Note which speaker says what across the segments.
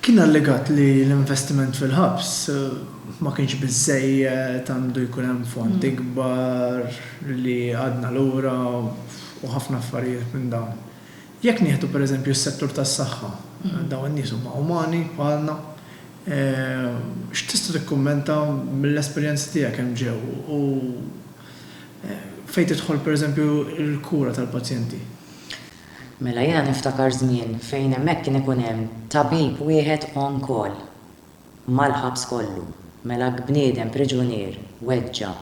Speaker 1: Kien allegat li l-investiment fil-ħabs ma kienx biżżejjed, għandu jkun hemm fond ikbar, li għadna lura u ħafna affarijiet minn dawn. Jekk nieħdu pereżempju s-settur tas-saħħa, dawn in-nies huma umani bħalna, x'tista' tikkummenta mill-esperjenzi tiegħek hemm ġew u fejn tidħol pereżempju l-kura tal-pazjenti?
Speaker 2: Mela jiena niftakar żmien fejn hemmhekk kien ikun hemm tabib wieħed on call mal-ħabs kollu. Mela jekk bniedem priġunier weġġa',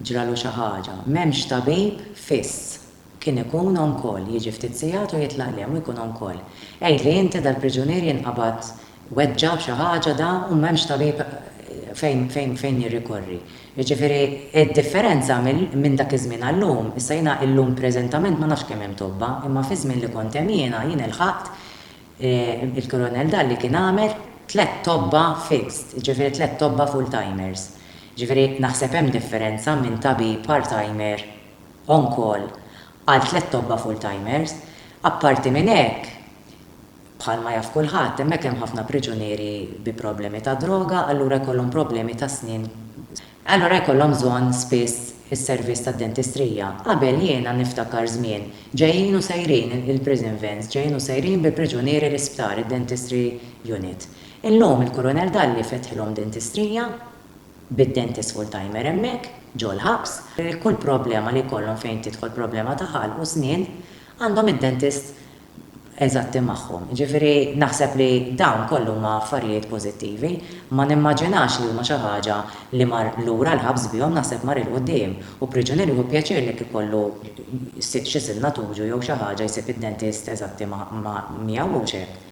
Speaker 2: ġralu xi ħaġa, m'hemmx tabib fiss. Kien ikun on call, jiġi ftit sigħat u jitlaq lhem u jkun on call. Għidli inti dal-priġunier jinqabad weġġa' b'xi ħaġa da u m'hemmx tabib fejn jirrikorri. Jiġifieri d-differenza minn dak iż-żmien għal-lum, issa jiena illum preżentament ma nafx kemm hemm tobba, imma fiż-żmien li kont hemm jiena, jien ilħaqt, il-Kurunell Dalli kien għamel tliet tobba fixed, jiġifieri tliet tobba full-timers. Jiġifieri naħseb hemm differenza minn tabib part-timer on-call għal tliet tobba full-timers. Apparti minn hekk, Bħalma jaf kulħadd, hemmhekk hemm ħafna priġunieri bi problemi ta' droga, allura jkollhom problemi tas-snien. Allura jkollhom bżonn spiss is-servizz tad-dentistrija. Qabel jiena niftakar żmien, ġejjin u sejrin il-prison vans, ġejjin u sejrin bil-priġunieri l-isptar, id-dentistry unit. Illum il-Kurunell Dalli fetħilhom dentistrija, bid-dentist full-timer hemmhekk, ġo l-ħabs. Kull problema li jkollhom fejn tidħol problema ta' ħalq u snien, għandhom id-dentist. eżatti magħhom. Jiġifieri naħseb li dawn kollu huma affarijiet pożittivi. Ma nimmaġinax li huma xi ħaġa li mar lura l-ħabs bihom, naħseb mar 'il quddiem. U priġunier jieħu pjaċir li jekk ikollu xi silna tuġu jew xi ħaġa jsib id-dentist eżatti miegħu, mhux hekk?